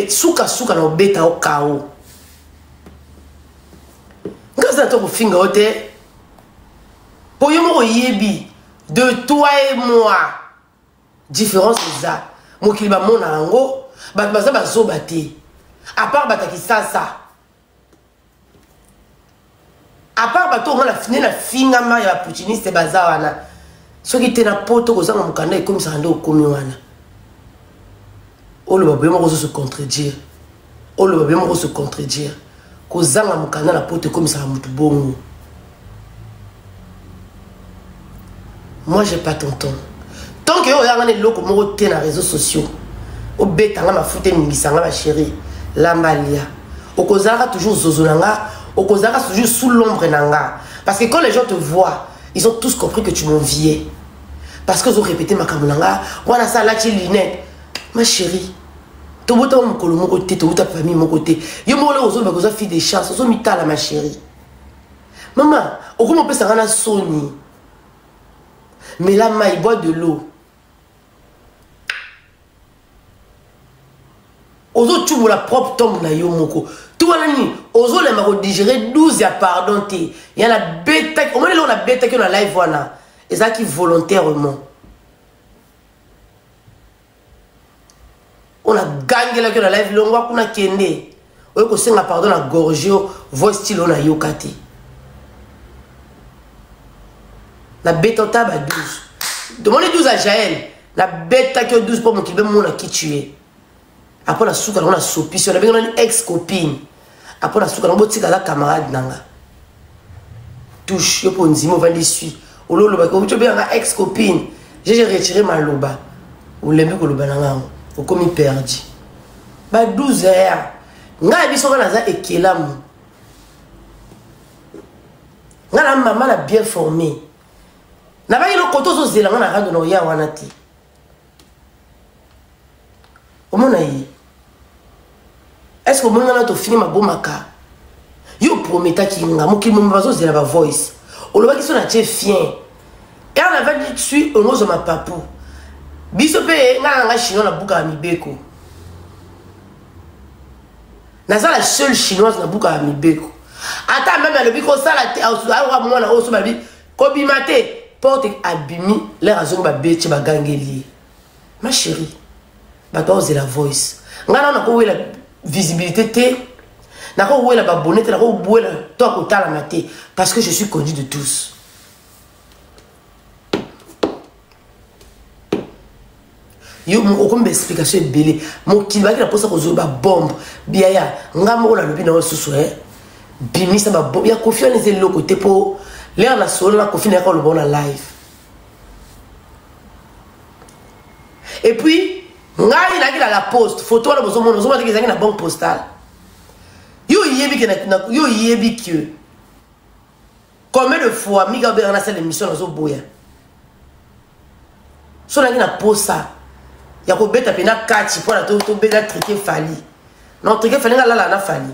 suka suka na obeta o kao nkaza to kofinga yo te mpo yo moko oyebi de toi et moi différence eza mokili bamona yango bato baza bazoba te apart bato ya kisasa apart bato omona nde na fingama ya baputiniste baza wana soki te na poto kozanga mokanda ekomisaka nde okomi wana oloba boye moko ozosu contredire oloba boye moko osu contredire kozanga mokanda na poto ekomisaka motu bongo moi j'ai pas ton temps tant que yo oyanga na eloko moko te na réseaux sociaux obeta nga mafuta eningisa nga bachéri lamba lia okozalaka toujours zozo na nga okozalaka toujours sous l'ombre na nga parce que quand les gens te voient ils ont tous compris que tu m'enviais parce que ozorépéte makambo na nga wana sa alati lunette ma chérie tobotama mokolo moko te towuta famille moko te yo moko leo ozoloba koza fille de chance ozomitala ma chérie mama okoma opesa nga na soni mela mai bois de l'eau ozocubola propre tombe na yo moko to wana nini ozolemba kodigere 12 ya pardon te ya nabetaki omoni eloko nabetaki yo na live wana ezalaki volontairement oyo nagangelaki yo na live longwa kuna kende oyo kosenga pardon na gorge yo voice style oyo nayoka te nabeta ota ba 12 tomoni 12 ya jael nabetaki yo 12 mpo mokili bemona ki tue apres nasuka nango nasopisi yo nabengana ni ex copine apo na suka na botika aza camarade na nga touche yo mpo ondimi ovandi sui ololobaki outi obenganga ex copine jeje retire maloba olembi koloba na ngango okomi perdi ba 12 heures ngai yebi soki naza ekelamu ngai na mama na bien formé nabaki lokota ozozela ngai na rando na oya wana te omona ye est ce que omoni wana tofini mabomaka yo prometaki nga mokili momi bazozela bavoice olobaki so na tie fien car na vadi sui ongozwa mapapu biso mpe nga na nga chinois na buka ya mibeko naza la seule chinoise na buka ya mibeko ata meme alobi kosala te aoka mwana oyo so balobi kobima te porte abimi lere azongi babeti bagangeli ye ma chérie bato aozela voice ngai nao nakowela visibilité te nakowela babone te nakowela to akotalama te parce que je suis connu de tous yo okomba explication ebele mokili bakela mposa kozwa babombe biaya nga moko nalobi na yo susu e bimisa babombe ya kofi wana eza eloko te mpo lere na solo na kofi nayaka oloba na live epuis ngai nayaki na la poste foto wana bozomona ozomona teke ezalaki na banque postale yo oyebi ke yo oyebi ke combien de fois mika obengana asala émission nazoboya so nangi na posa ya kobeta mpe na kati mpo na tobeta trike fali na kotrike fali nga lala na fali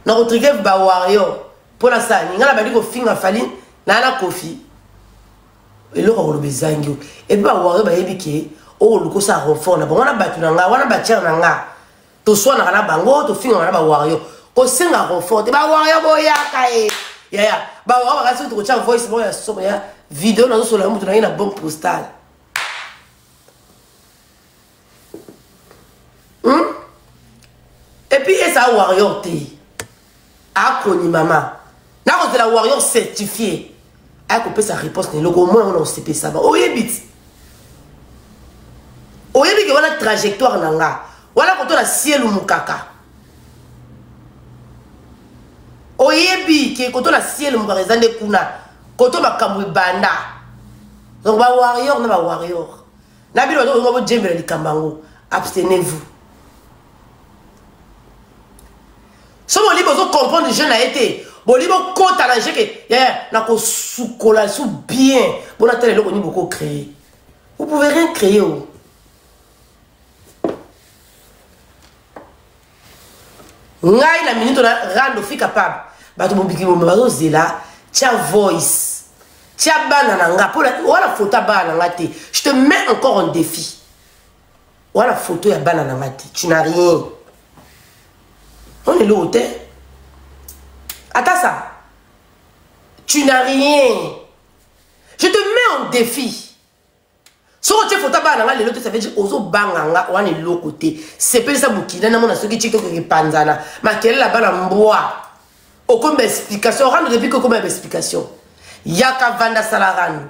na kotrike bawario mpo na sani nga na bandi kofinga fali naa na kofi eloko ya koloba ezangi yo epe bawario bayebi ke okoluka osala renfort na bango wana bato na nga wana batiere na nga toswanaka na bango tofingaka na bawario kosengaka confort te bawario boyaka e yaya bawario bakasi kutu kotya voice moko ya somo ya video nazosola yo moto na ye na bombe postale hmm? epuis eza wario te akoni mama nakozela warrior certifie aya kopesa réponse na eloko omoi yango na osepesama oyebi ti oyebi ke wana trajectoire na nga wana koto na sielu mokaka oyebi ke koto na sielu mokaka eza nde kuna koto makambo ebanda donc bawarrior na bawarrior na bino bato olinga bojembela likambo yango abstenez vous soki boli bozo comprendre je na ye te boli bokota na jeke nakosukola su bien bona tala eloko nini boko créer vous pouvez rien créer o oh. ngai na minute na rando fi capable bato mobiki bombe bazozela tya voice tya bana na nga mpo wana fota bana na nga te je te mets encore en défi wana foto ya bana na nga te tu na rien on eloko te ata sa tu na rien je te mets en défi soki otye foto ya bana na nga lelo te saveje ozobanga nga wana eloko te sepelisa mokili namona soki tiktok epanzana makelele ya bana mbwa okomi baexplication orando depuis kokoma ya baexplication yaka vanda sala rando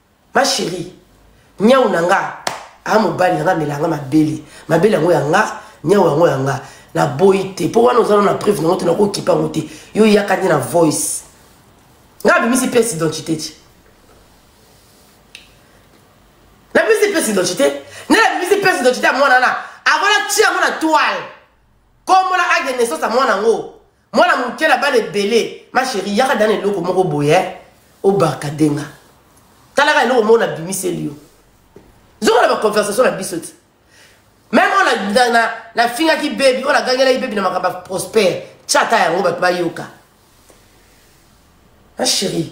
ma chérie nyau na nga a mobali na nga amela nga mabele mabele yango ya nga nyau yango ya nga naboyi te mpo wana ozana na preuve nango te nakokipa yango te yo yaka nde na voice nga abimisi pièce identité ti nabimisi pièce identité nde nabimisi pièce identité ya mwana na avant natia yango na toile kombo na acte de naissance ya mwana yango mwana moke na bana ebele ma chérie yaka dana eloko moko boye eh? obarka denga talaka eloko moko nabimiseli yo zongo na baconversation na biso ti meme oyo nafingaki bebi oyo nagangelaki bebi na makambo ya prospère tya ata yango bato bayoka ma chérie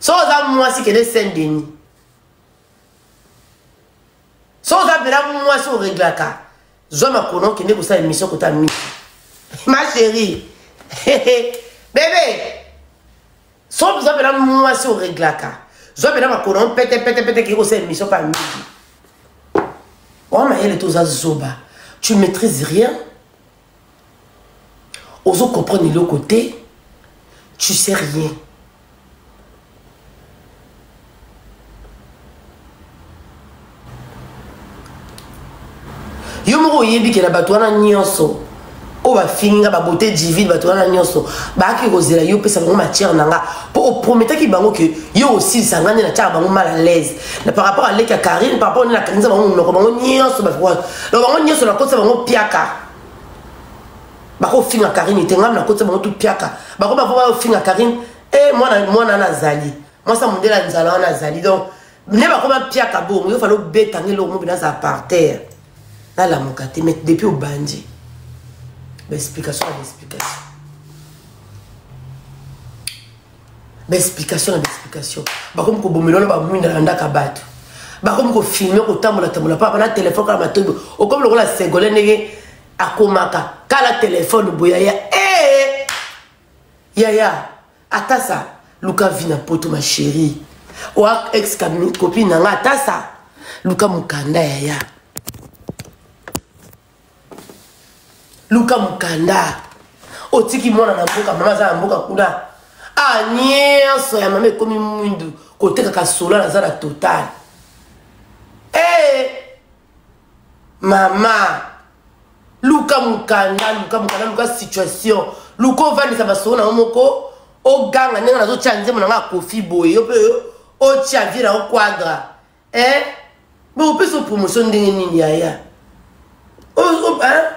so oza mwasi kende saint denis so oza mpela mwasi oreglaka zwa makono okende kosala emission kota miki ma chérie bebe so oza mpela mwasi oreglaka zwa mpela makono mpete mpete mpete kei kosala emission pa miki oa mayele te oza zoba tu maîtrise rien ozo comprendre eloko te tu sais rien yo moko oyebi ke na bato wana nyonso oyo bafingi nga babote divine bato wana nyonso bayaki kozela yo opesa bango matière na nga mpo oprometaki bango ke yo osilisa nga nde natyaka bango mal à l'aise na par rapport à leki ya karine par rapport nini akanisa bango monoko bango nyonso donc bango nyonso nakotisa bango piaka bakofinga karine te ngai nakotisa bango tu piaka bako bako bayofinga karine e eh, mwana mwana wana azali mwasi ya mondele ya nzala wana azali donc nde bakoma piaka bongo yo fali obeta nge eloko mobina aza par terre nalamuka te mais depuis obandi baexplication na baexplication baexplication na baexplication bakomi kobomela wana bamwinda na ndaka bato bakomi kofilme kotambolatambola papa na telefone kala matobi okomi lokola segole ndenge akomaka kala telefone boya ya ee yaya ata sa luka vi na poto ma chérie oa ex copine na nga ata sa luka mokanda yaya luka mokanda otiki mwana na mboka mama aza na mboka kuna a nyonso ya mama ekomi mwindu kotekaka sola naza na total ee mama luka mokanda luka mokanda luka situation luka ovandisa masolo na yo moko oganga ndenge nazotya nzembo na ngai akofi boye yo mpe otya vie na yo quadra eh bakopesa yo promotion ndenge nini yaya oh, oh, hein?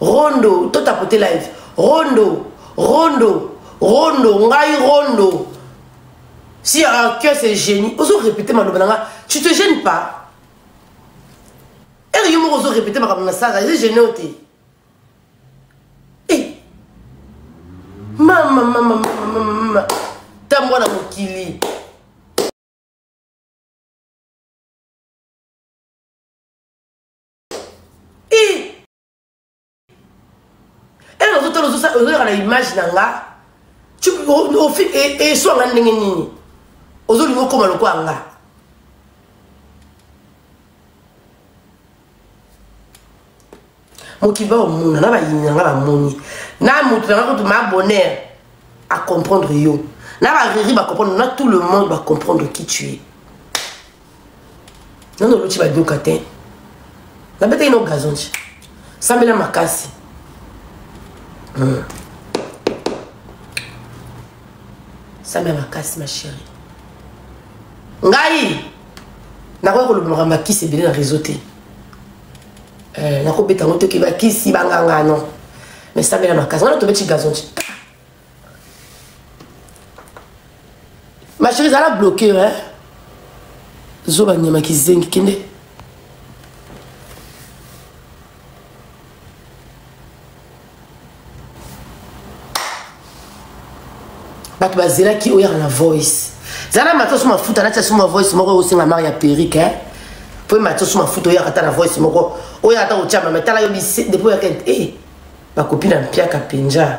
rondo to tapote live rondo rondo rondo ngai rondo si ah, que c'est génie ozo répéter maloba na nga tu te gênes pas ere yo moko ozo répéter makambo na sala eze gêne o te mama mama mama tambwa na mokili ena ozotala ozoyaka na image na nga eswa nga ndenge nini ozolinga okoma lokola nga mokili baomona na bayini na nga bamoni na moto na nga kutu ma bonheur acomprendre yo na bariri bacomprendre na tout le monde bacomprendre qui tu es nano oluti badoka te nabetaki nao gazonci sambela makasi hmm. sambela makasi ma chérie ngai nakoki koloba makambo ya kisi ebele na réseau te eh, nakobeta yango toki bakisi bangangano mais sambela makasi wana tobeti gazonci ma chérie zala bloqué hein zoba nyama kizengi kende bato bazelaki oyaka na voice zala matoso mafuta natya so ma voice moko osenga mari ya perike hein? po matoso mafuta oyaka ata na voice moko oyaka ata kotyama me tala yo depuis oyaka e eh, bakopi na mpiaka mpenja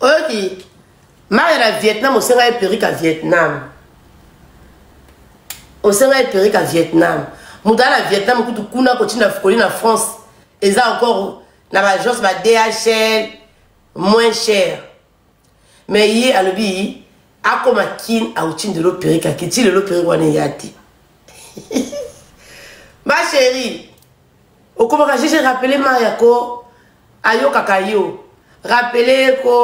oyoki mare na vietnam osenga ye perika vietnam osenga ye perika vietnam moto aya na vietnam kutu kuna kotinda fukoli na france eza encore na baagence ba dhl moins cher mais ye alobi akoma kin auti ndelo perike akiti lelo perike wana eya te ma chérie okomaka jeje rappele maya ko ayokaka yo rapele ko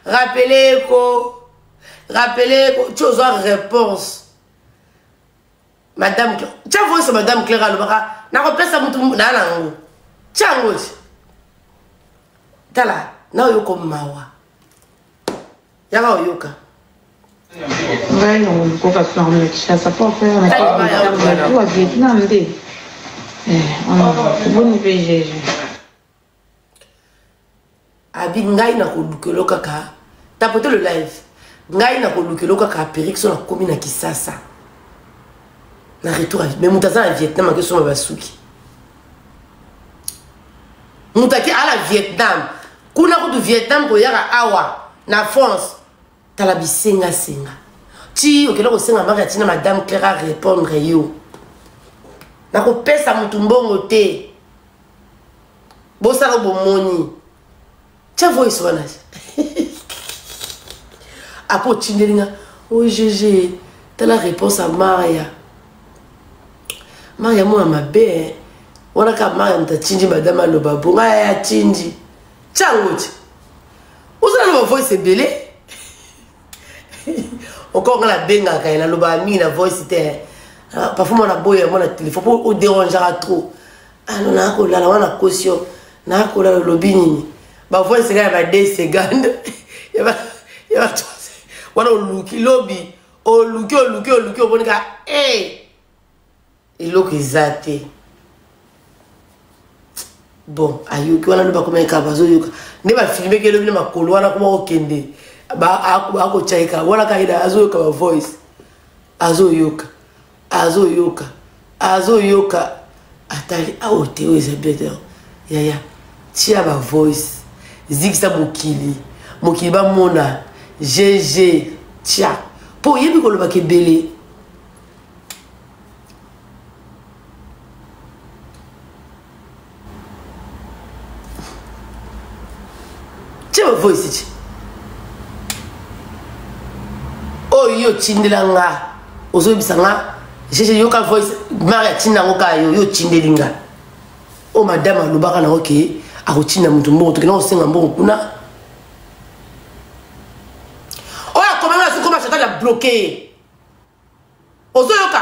rapele ko rapele ko ti ozwa réponse madame tya voice madame claire alobaka nakopesa motu naa na yango tya yango ti tala na oyo komawa yaka oyoka ngai na kokoka plan na kinshasa po afaya na tout a vietnam nde oboni mpe jeje abi ngai na kolukelo kaka tapote le live ngai na kolukelo kaka aperik so nakomi na kisasa na retour me moto aza na vietnam akesoma basuki moto ake ala vietnam kuna kutu vietnam koyaka awa na france tala bisengasenga ti okenda kosenga maka ntina madame claire arépondre yo nakopesa motu mbongo te bosala bomoni tya voice wana apo otindeli nga ogg tala réponse ya maya maya mwana mabe eh. wana kaka maya moto atindi madame aloba bo ngai ya atindi ntango ti ozala na bavoice ebele okoo ngai nabengaka ye nalobaka mingi na voice te eh. ah, parfois mwana boyo yango na telefone mpo oderangeaka trop ano ah, nakolala wana nakosi yo nakolala olobi nini bavoice kaka ya ba 2 seconde ya ba wana oluki lobi oluki oluki oluki omoni ka e eloko eza te bon ayoki wana nde bakomeka bazoyoka nde bafilmeki elobi na makolo wana koma kokende akotyaika wana kaida azoyoka bavoice azoyoka azo yoka azo yoka atali awo ah, te oyo eza bete yaya tia ba voice zikisa mokili mokili bamona gg tia mpo oyebi kolobaka ebele tia bavoisi ti oyo otindela nga ozoyebisa nga jeje yoka voice mari atinda yango kaka yo yo otindeli nga oyo madame alobaka nango ke akotinda moto mbongo tokenda kosenga mbongo kuna oyo akomanga asikoma chatal ya bloke ye ozoyoka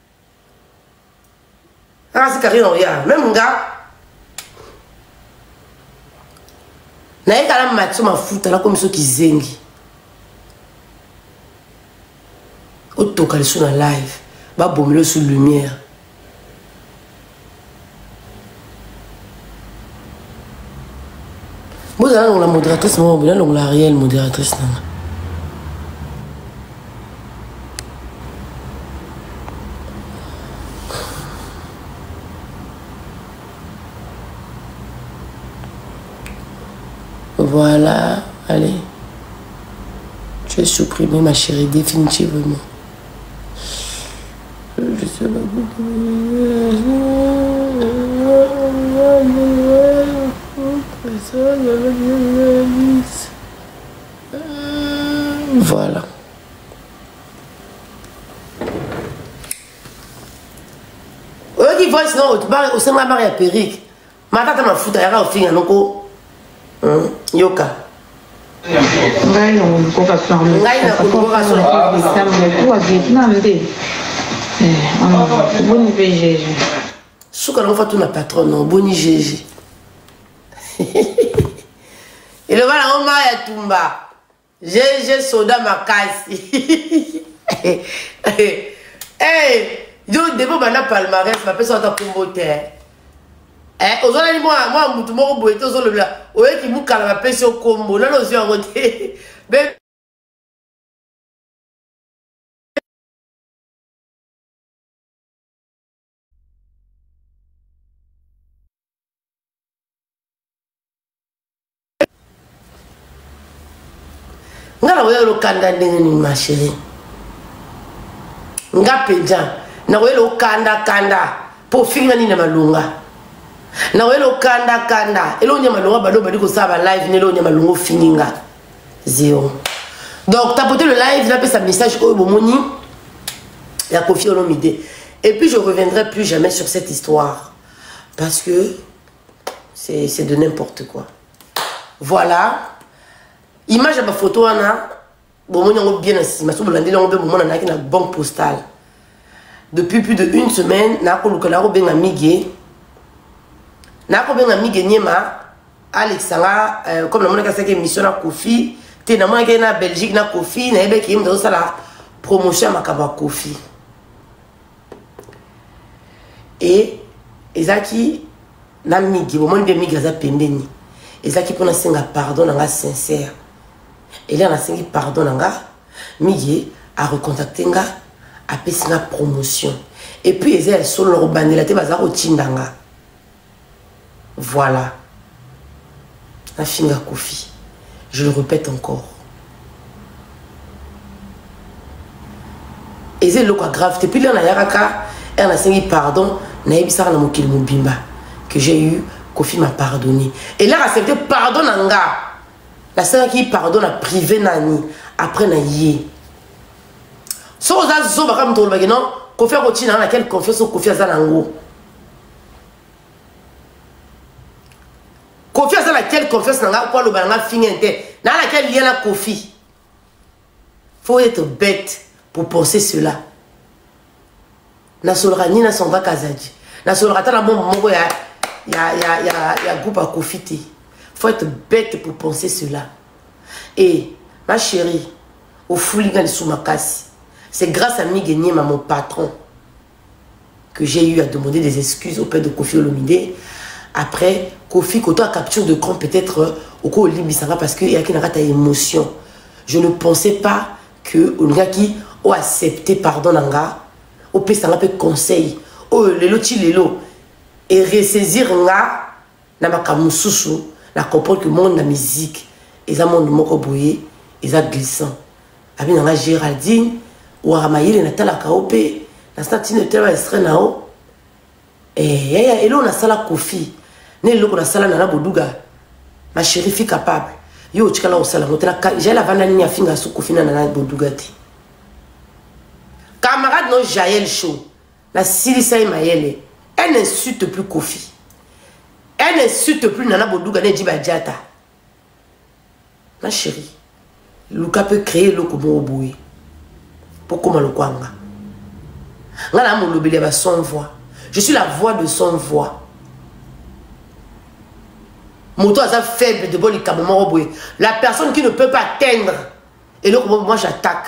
Nasi Karine Oya, même nga. Naye kala matso mafuta na komiso kizengi. Otoka liso na live, ba bomelo sous lumière. bozala nalongola modératrice moko boye nalongola ariel modératrice nanga voilà allez tu es supprimé ma chérie définitivement Voilà. oyoki voice no osenga mare ya perike matata mafuta yaka ofinga noko hmm, yoka ngai na kolukoka solo ngai na kolukoka solo kuwa vietnam nde oboni mpe jeje suka nango fatuna patron no oboni jeje eloba nango mai ya tumba GG soda makasi. hey, yo debo banda palmarès ba pesa ta kombo te. Eh, ozalaki mwa mwa mutu moko boye te ozolobela oyeki mukala bapesi yo kombo nani ozwi yango te nga na koyela lokanda ndenge nini ma chérie nga mpenza na koyela okanda kanda mpo ofinga nini na malonga na koyela okanda kanda eloko nya malonga bado obandi kosala balive na eloko nya malonga ofingi nga zero donc tapote le live napesa message oyo bomoni ya kofi olomide et puis je reviendrai plus jamais sur cette histoire parce que c'est de n'importe quoi voilà image ya bafoto wana bomoni yango bien na nsima so bolandeli yango mpe bomonanaki na banque postale depuis plus de une semaine nakoluka nakobenga migue nakobenga migue niema alekisa nga euh, comme namonaki asaki émission na kofi te namonaki na belgique na kofi nayebeki ye moto azosala promotion ya makambo ya kofi e ezalaki na migi bomoni mpe migi aza pembeni ezalaki mpo nasenga pardon na nga sincère elia nasengi pardon na nga miye a recontacte nga apesi nga promotion et puis eza ya solo na kobandela te baza kotinda nga voilà nafinga kofi je le répète encore eza eloko ya grave te pili nayaka ka ere nasengi pardon nayebisaka na mokili mobimba que j'ai eu kofi m'a pardonné elaka accepte pardon na nga nasalaki pardon na prive nani après na ye soki oza zoba kaka moto olobaki non kofi akotina na quelle confiance oyo kofi aza na yango kofi aza na quelle confiance na ngai po aloba na ngai finge te naa na quelle lien na kofi faut être bête pour penser cela nasolaka nini nasonga kazadi nasolaka ata na bombo moko ya, ya, ya, ya, ya groupe akofi te faut être bête pour penser cela e ma chérie ofuli nga lisu makasi c'est grâce à migue niema mon patron que j'ai eu à demander des excuses auprès de Kofi Olomide après Kofi koto à capture de camp peut-être euh, au ko limbisa nga parce que yaki na kata émotion je ne pensais pas que olingaki o accepter pardon na nga o pesa nga pe conseil oh lelo ti lelo et ressaisir nga na makambo mosusu na comprendre que monde na musique eza monde moko boye eza glissant abi na nga géraldine waka mayele natalaka yo mpe nasala ntina otala estre na yo eh, eh, eh, eloko nasala kofi na eloko nasala nana boduga ma chérie fi capable yo otikala kosala yango tala jael avanda nini afinga su kofi na nana boduga te camarade no jael show nasilisa ye mayele elle n'insulte plus kofi elle n'insulte plus nana boduga ne jiba jata ma chérie luka mpe créer eloko moko boye mpo koma lokwanga nga na molobeli ya ba son voix je suis la voix de son voix moto aza faible de bo likambo moko boye la personne qui ne peut pas atteindre eloko moko moi j'attaque